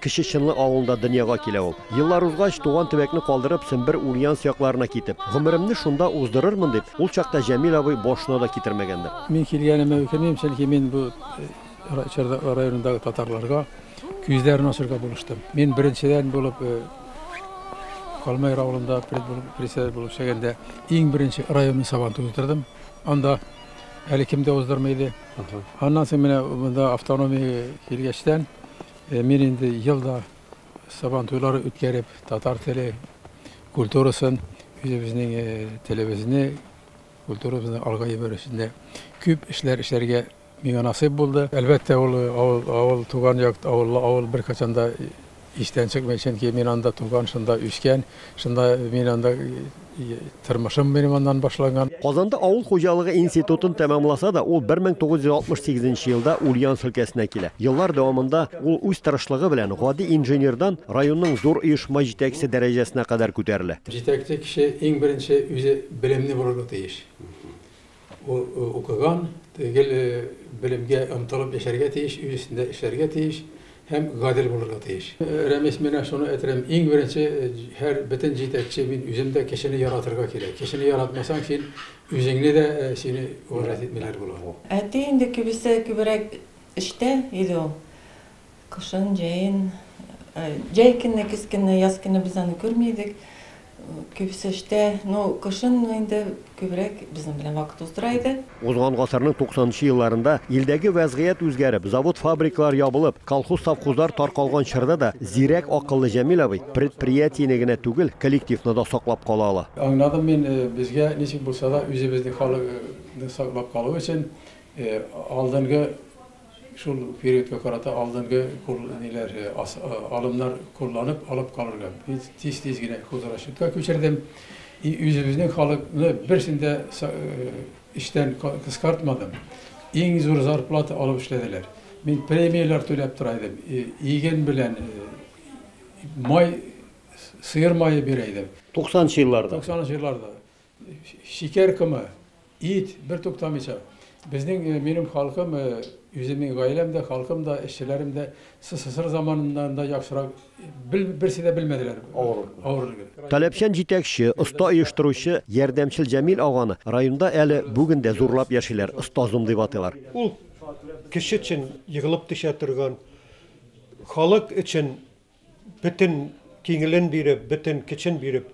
Кече Чынлы авылында дөньяга килә ул. Еллар узгач, туган төбәкне калдырып, Сембер, Ульяновск якларына китеп, гомеремне шунда уздырырмын дип, ул чакта Җәмил абый башына да китермәгәндер. Мин килгәнемә үкенмим, чөнки мин бу чорда районындагы татарларга күзләрен ачырга булыштым. Мин беренчедән булып Калмайыр авылында пред булып, председатель булып эшләгәндә, иң беренче районный сабантуй уздырдым. Анда әле кем дә уздырмый иде. Аннан соң менә монда автономия килгәчтән, Мин инде ел да Сабан туйлары үткәреп, татар теле, культурасын, үзебезнең телебезне, культурабызны алга җибәрү өстендә күп эшләр эшләргә миңа насыйп булды. Әлбәттә, ул авыл, авыл, туган як, авыллы авыл беркайчан да истән чыкмый, чөнки мин анда туган, шунда үскән. Шунда мин анда тормышым минем аннан башланган. Казанда авыл хуҗалыгы институтын тәмамласа да, ул 1968 елда Ульяновск өлкәсенә килә. Еллар дәвамында ул үз тырышлыгы белән гади инженердан районның зур оешма җитәкчесе дәрәҗәсенә кадәр күтәрелә. Җитәкче кеше иң беренче үзе белемле булырга тиеш. Ул укыган, гел белемгә омтылып яшәргә тиеш, өй өстендә эшләргә тиеш һәм гадел булырга тиеш. Рәмис, менә шуны әйтерем, иң беренче һәр бөтен җитәкче, мин үзем дә кешене яратырга кирәк. Кешене яратмасаң, син үзеңне дә, сине уважать итмиләр була. Әти инде кибеседә күбрәк эштә иде ул. Кышын, җәен, җәй көне, көз көне, яз көне без аны күрми идек. Күбесе эштә, ну, кышын инде күбрәк безнең белән вакыт уздыра иде. Узган гасырның 90 нчы елларында илдәге вәзгыять үзгәреп, завод-фабрикалар ябылып, колхоз-совхозлар таркалган чорда да зирәк акыллы Җәмил абый предприятиене генә түгел, коллективны да саклап кала ала. Аңладым мин, безгә ничек булса да үзебезнең халыкны саклап калу өчен алдынгы, Шул периодка карата алдынгы кул ниләр, алымнар кулланып алып калырга тиз-тиз генә хозрасчетка күчердем. И үзебезнең халыкны берсен дә эштән кыскартмадым. Иң зур зарплата алып эшләделәр. Мин премияләр түләп тора идем. Иген белән май, сыер мае бирә идем. Туксанынчы елларда. Туксанынчы елларда. Шикәр комы, ит, бертуктамыйча. Безнең, минем халкым, үземнең гаиләм дә, халкым да, эшчеләрем дә СССР заманыннан да яхшырак бел, берсе дә белмәделәр авырлыкны. авырлыкны. Таләпчән җитәкче, оста оештыручы Ярдәмчел Җәмил аганы районда әле бүген дә зурлап яшиләр, остазым дип атыйлар. Ул кеше өчен егылып төшә торган, халык өчен бөтен киңелен биреп, бөтен көчен биреп,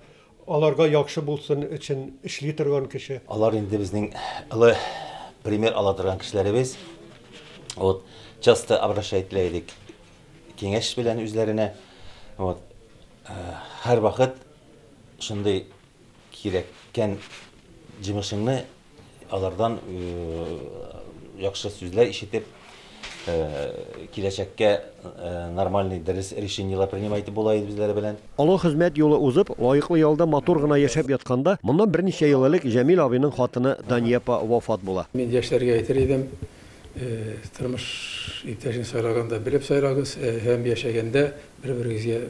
аларга яхшы булсын өчен эшли торган кеше. Алар инде безнең олы пример ала торган кешеләребез. Вот, часто обращать ителә идек киңәш белән үзләренә. Вот, һәрвакыт шундый кирәккән җимешеңне Алардан яхшы сүзләр ишетеп, киләчәккә нормальный, дөрес решениеләр принимать итеп була иде үзләре белән. Олы хезмәт юлы узып, лаеклы ялда матур гына яшәп ятканда, моннан берничә ел элек Җәмил абыйның хатыны Дания апа вафат була. Мин яшьләргә әйтер идем, тормыш иптәшен сайлаганда белеп сайлагыз һәм яшәгәндә бер-берегезгә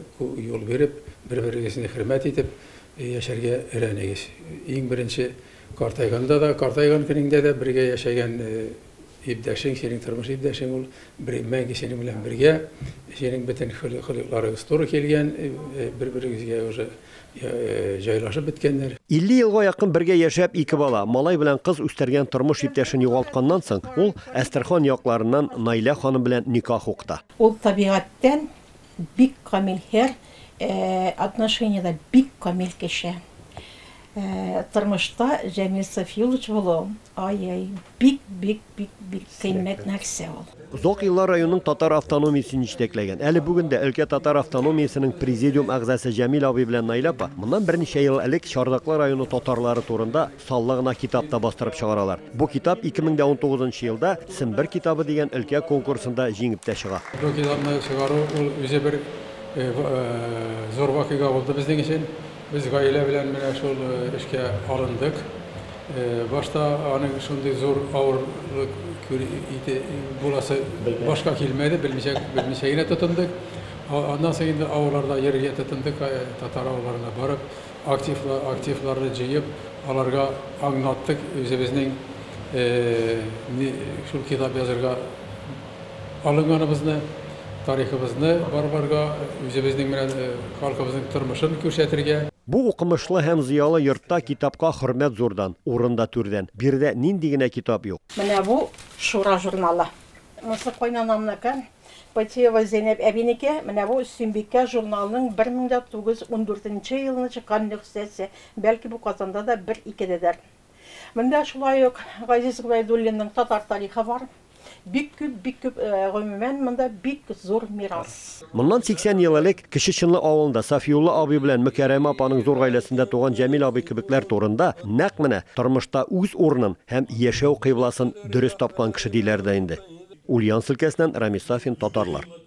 юл биреп, бер-берегезне хөрмәт итеп яшәргә өйрәнегез. Иң беренче. Картайганда да, картайган көнеңдә дә бергә яшәгән иптәшең, синең тормыш иптәшең ул мәңге синең белән бергә. Синең бөтен холыкларыгыз туры килгән, бер-берегезгә уже җайлашып беткәннәр. 50 елга якын бергә яшәп, ике бала, малай белән кыз үстергән тормыш иптәшен югалтканнан соң, ул Әстерхан якларыннан Наилә ханым белән никах укыта. Ул табигатьтән Бик камил һәр отношениедә бик камил кеше. Тормышта Җәмил Сафиуллович булу, ай-яй, бик, бик, бик, бик кыйммәт нәрсә ул. Озак еллар районның татар автономиясен җитәкләгән, әле бүген дә өлкә татар автономиясенең президиум әгъзасы Җәмил абый белән Наилә апа моннан берничә ел элек Чардаклы районы татарлары турында, Саллы гына китап та бастырып чыгаралар. Бу китап 2019 елда Сембер китабы дигән өлкә конкурсында җиңеп тә чыга. Бу китапны чыгару, ул үзе бер зур вакыйга булды безнең өчен. Без гаилә белән менә шул эшкә алындык. Башта аның шундый зур авырлык буласы башка килмәде, белмичә генә тотындык. Аннан соң инде авылларда йөрергә тотындык, татар авылларына барып. Активларны җыеп, аларга аңлаттык үзебезнең шул китап язырга алынганыбызны, тарихыбызны барларга, үзебезнең белән халкыбызның тормышын күрсәтергә. Бу укымышлы һәм зыялы йортта китапка хөрмәт зурдан, урын да түрдән. Биредә нинди генә китап юк! Менә бу Шура журналы. Монысы кайнанамныкы. Патиева Зәйнәб әбинеке, менә бу Сөембикә журналының 1914 елны чыккан нөхсәсе, бәлки бу Казанда да бер-икедәдер. Монда шулай ук Газиз Гобәйдуллинның татар тарихы бар. Бик күп, бик күп, гомумән, монда бик зур мирас. Моннан 80 ел элек Кече Чынлы авылында Сафиулла абый белән Мөкәрәмә апаның зур гаиләсендә туган Җәмил абый кебекләр турында нәкъ менә тормышта үз урынын һәм яшәү кыйбласын дөрес тапкан кеше диләр дә инде. Ульяновск өлкәсеннән Рамис Сафин, Татарлар.